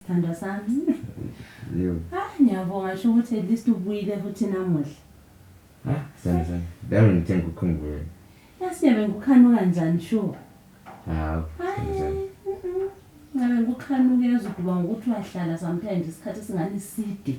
Sithandwa sami. Yebo. Ah, ngiyabonga sho ukuthi at least ubuyile futhi namuhla. Ah, sana sana. Dawe ngithe ngikukhumbule. Yasiyabe ngikukhanuka kanjani sho? Hawu. sana sana. Hayi. mm-mm. Ngabe ngikukhanuka ezwe ukuba ngokuthi uyahlala sometimes isikhathi singani side.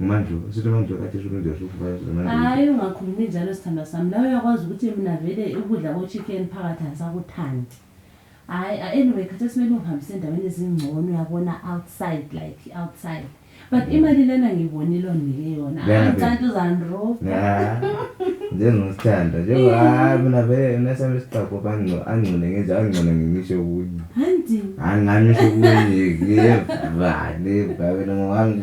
manje usithi manje kade usubenza sufaya manje hayi ungakhulumi njalo sithandwa sami nawe uyakwazi ukuthi mina vele ukudla kochicken phakathi angisakuthandi hayi anyway khatha simele ungihambise endaweni ezingcono uyabona outside like outside but mm. imali lena ngiyibonile ondike yona angicanti uzandro njengothanda njengo hayi mina vele nasami isiqago angcone ngenje angcone ngimisho okunye angamisho okunye ngiyevane babelongo wami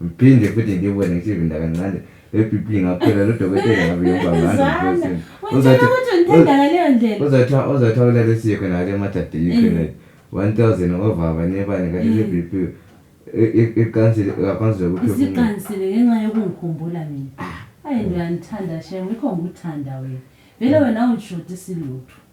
Uphinde futhi ngibone ngisibinda kancane epipi ngaphela lodokotela ngabe yobabana. Uzathi uthanda ngaleyo ndlela. Uzathi uzathi awulale siye khona ngale mathathe yikhona. 1000 ovava nebani kanti le BP iqansile ngaphansi lokuthi isiqansile ngenxa yokungikhumbula mina. Ayi ngiyangithanda shem, yikho ngikuthanda wena. Vele wena awungishodi silutho.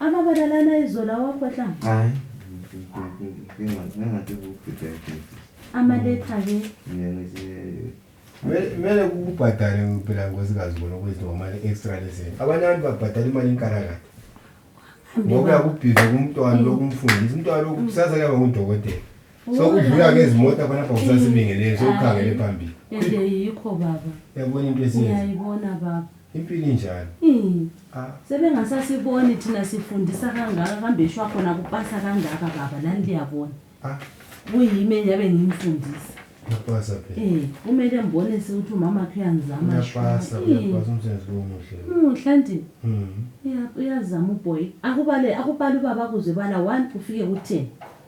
ababalalana izolo awakhohla hayi ngingathi kubhideke amaletha ke kumele kubhadale phela nkosikazi bona ukuthi ngomali extra leseni abanye abantu babhadala imali inkalakade ngokuya kubhiza kumntwana lokumfundisa umntwana lokusasa kuyaba ngudokotela so udlula ngezimoto abana bakusasibingelele sewukhangele phambili ende yikho baba yabona into esiyenza uyayibona baba impilo injalo hmm. ah. sebengasasiboni thina sifundisa kangaka kambe shwa khona kupasa kangaka baba lani liyabona ah. kuyimi enyabe ngimfundisa uyapasa phela um eh, kumele mbone sewuthi umama khe uyangizama uyapasa eh. uyapasa umsebenzi lowo muhle muhle nti hmm. uyazama uboy akubale akubale ubaba kuze bala one ufike ku-ten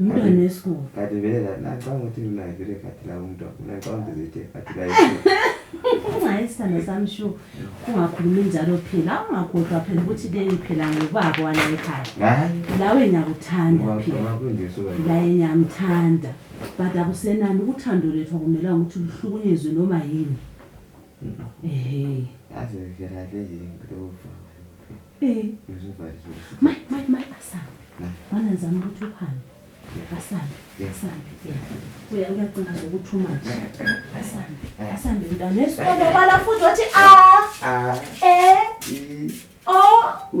Umntwana wesikolo. Kati vele la nacanga ukuthi mina vele kati la umuntu mina ngicanga ukuthi zithe kati la Ungayi sithando sami shu ungakhulumi njalo phela ungakhohlwa phela ukuthi leyi phela ngubaba wala ekhaya. Hayi. Lawe ngiyakuthanda phela. Laye ngiyamthanda. But akusenani uthando lethu akumela ukuthi luhlukunyezwe noma yini. Ehhe. Yazi vele le yini lo. Eh. Mai mai mai asambe. Bana ngizama ukuthi uhambe. Asambe. Asambe. Uya uyacinga ukuthi umathi. Asambe. Asambe mntana esikole bala futhi wathi a. A. E. O. U.